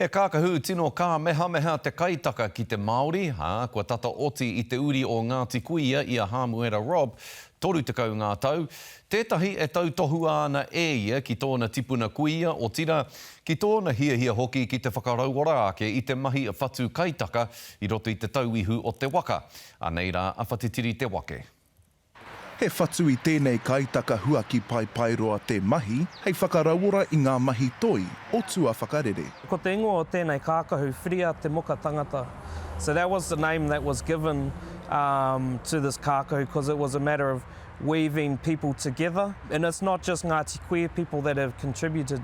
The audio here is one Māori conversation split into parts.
He kākahu tino kāmehameha te kaitaka ki te Māori, ā, kua tata oti i te uri o Ngāti Kuia i a Hāmuera Robb, 30 ngā tau, tētahi e tautohua ana e ia ki tōna tipuna kuia, otirā, ki tōna hiahia hoki ki te whakarauora ake i te mahi whatu kaitaka i roto i te tauihu o te waka. Anei rā a Whatitiri Te Wake. He whatu i tēnei kaitaka huaki paepaeroa te mahi hei whakarauora i ngā mahi toi o tua whakarere. Ko te ingoa o tēnei kākahu, Whiria te Moka Tangata. So that was the name that was given to this kākahu because it was a matter of weaving people together and it's not just Ngāti Kuia people that have contributed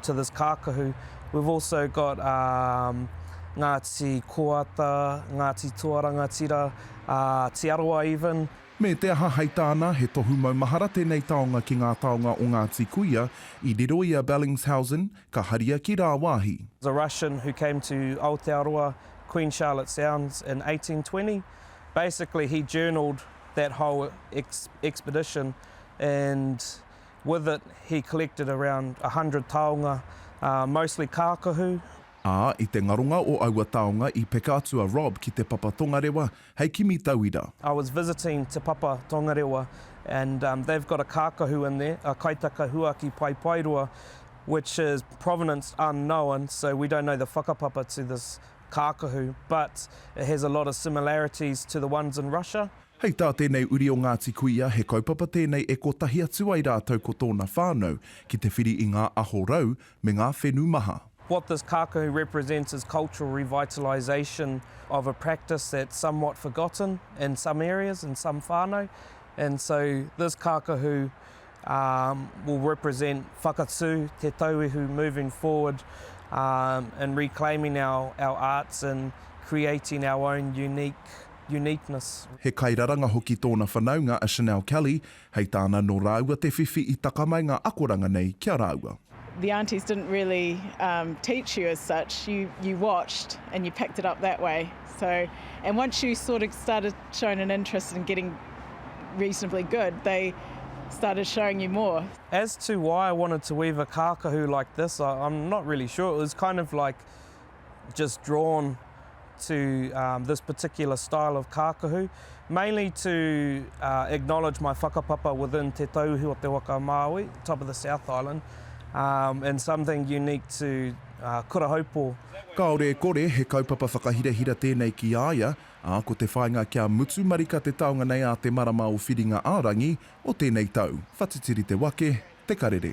to this kākahu. We've also got um, Ngāti Koata, Ngāti Toa Rangatira, uh, Te Arawa even. Me te aha hei tāna, he tohu maumahara tēnei taonga ki ngā taonga o Ngāti Kuia, i riro i a Bellingshausen, ka haria ki rāwāhi. was a Russian who came to Aotearoa, Queen Charlotte Sounds, in 1820. Basically, he journaled that whole ex- expedition and With it, he collected around a hundred taonga, mostly kākahu. Ā, i te ngaronga o aua taonga i peka atu a Rob ki Te Papa Tongarewa hei kimi tauira. I was visiting Te Papa Tongarewa and they've got a kākahu in there, a kaitaka huaki paepaeroa which is provenance unknown so we don't know the whakapapa to this kākahu but it has a lot of similarities to the ones in Russia. Hei tā tēnei uri o Ngāti Kuia, he kaupapa tēnei e kotahi atu ai rātou ko tōna whānau ki te whiri i ngā aho rau me ngā whenu maha. What this kākahu represents is cultural revitalisation of a practice that's somewhat forgotten in some areas, in some whānau, and so this kākahu will represent whakatū te tauihu moving forward in reclaiming our arts and creating our own unique uniqueness. He kairaranga hoki tōna whanaunga a Chanel Kelly, hei tāna nō rāua te whiwhi i taka mai ngā akoranga nei ki a rāua. The aunties didn't really teach you as such, you watched and you picked it up that way. So, and once you sort of started showing an interest in getting reasonably good, they started showing you more. As to why I wanted to weave a kākahu like this, I'm not really sure, it was kind of like just drawn to um, this particular style of kākahu, mainly to uh, acknowledge my whakapapa within te tauihu o te waka Māui, top of the South Island, um, and something unique to uh, Kura Haupo. Kāore e kore, he kaupapa whakahirahira tēnei ki a ia, ā, ko te whāinga kia mutu marika te taonga nei ā te marama o Whiringa-ā-rangi o tēnei tau. Whatitiri te wake, te karere.